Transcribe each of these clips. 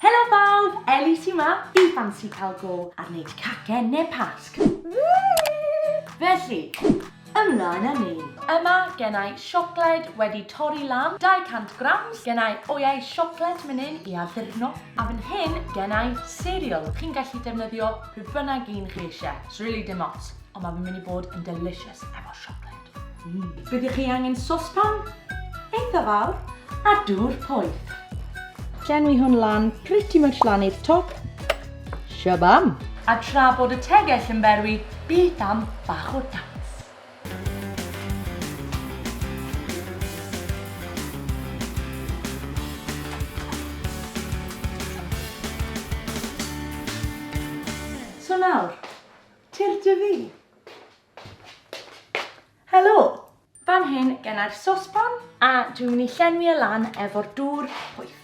Helo bawb! Ellie sy 'ma, fi fansi cael go ar wneud cacen neu pasg. Felly, ymlaen â ni. Yma gennai siocled wedi torri lan, 200 grams, gennai oeau siocled menyn i addurno, a fan hyn gennai cereal. Chi'n gallu defnyddio pryd bynnag un chi eisiau, 'srili dim ots, ond mae fe'n mynd i bod yn delicious efo siocled. Byddwch chi angen sospan eitha fawr a dŵr poeth. Llenwi hwn lan, pretty much lan i'r top. Shabam! A tra bod y tegell yn berwi, beth am bach o dawns? So nawr, tir dy fi. Helo! Fan hyn genna'r sosban a dwi'n mynd i llenwi e lan efo'r dŵr poeth.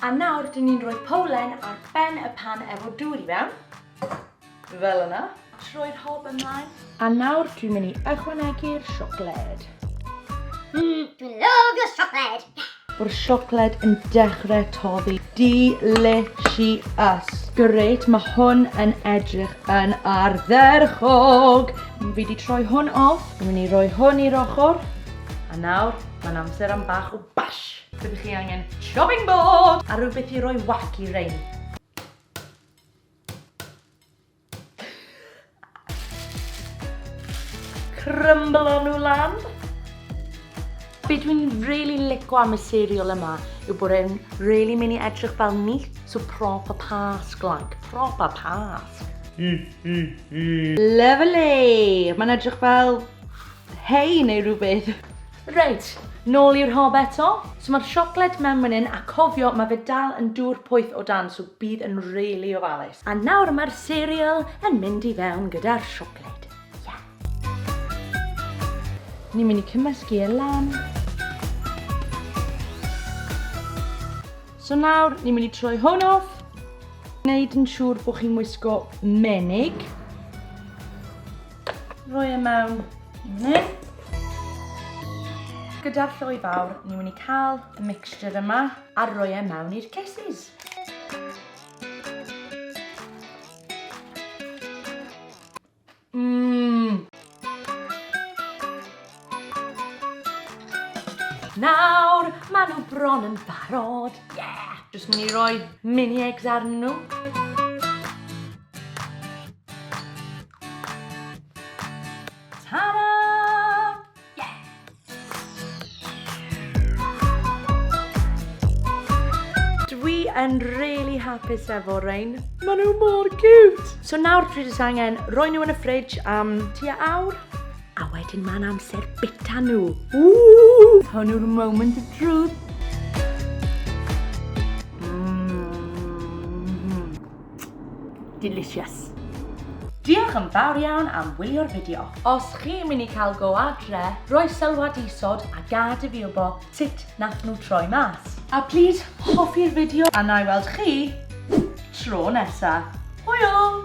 A nawr dyn ni'n rhoi powlen ar ben y pan efo dŵr i fewn. Fel yna. Troi'r hob ymlaen. A nawr dwi'n mynd i ychwanegu'r siocled. Mmm, dwi'n lyfio siocled! Mae'r siocled yn dechrau toddi. Delicious! Grêt, mae hwn yn edrych yn ardderchog! Fi di troi hwn off, fi'n mynd i roi hwn i'r ochr, a nawr mae'n amser am bach o bash! Byddwch chi angen chopping board a rhywbeth i roi whack i rein. Crymblo nhw lan. Be dwi'n really lico am y cereal yma yw bod e'n really mynd i edrych fel ni, so proper pasg, like, proper pasg. Mm, mm, mm. Lovely! Mae'n edrych fel hei neu rhywbeth. Reit, nôl i'r hob eto. So ma'r siocled mewn man 'yn a cofio ma' fe dal yn dŵr poeth o dan so bydd yn rili ofalus. A nawr ma'r cereal yn mynd i fewn gyda'r siocled. Ie. Ni myn' i cymysgu e lan. So nawr ni myn' i troi hwn off. Neud yn siŵr bo' chi'n wisgo menig. Rhoi e mewn yn hyn. Gyda'r lloi fawr, ni'n mynd i cael y mixture yma a rhoi e mewn i'r cases. Mmm! Nawr, maen nhw bron yn barod. Yeah! Jyst mynd i roi mini eggs arnyn nhw. Ta-da! Yeah! Dwi yn really hapus efo rhain. Maen nhw mor cute! So nawr dwi jyst angen roi nhw yn y fridge am tua awr. A wedyn mae'n amser bita nhw. Ww! Hwn yw'r moment of truth. Mm. Delicious. Diolch yn fawr iawn am wylio'r fideo. Os chi'n mynd i cael go adre, roi sylwad isod a gad i fi wbo sut nath nhw troi mas. A plîs hoffi'r fideo a na i weld chi tro nesa. Hwyl!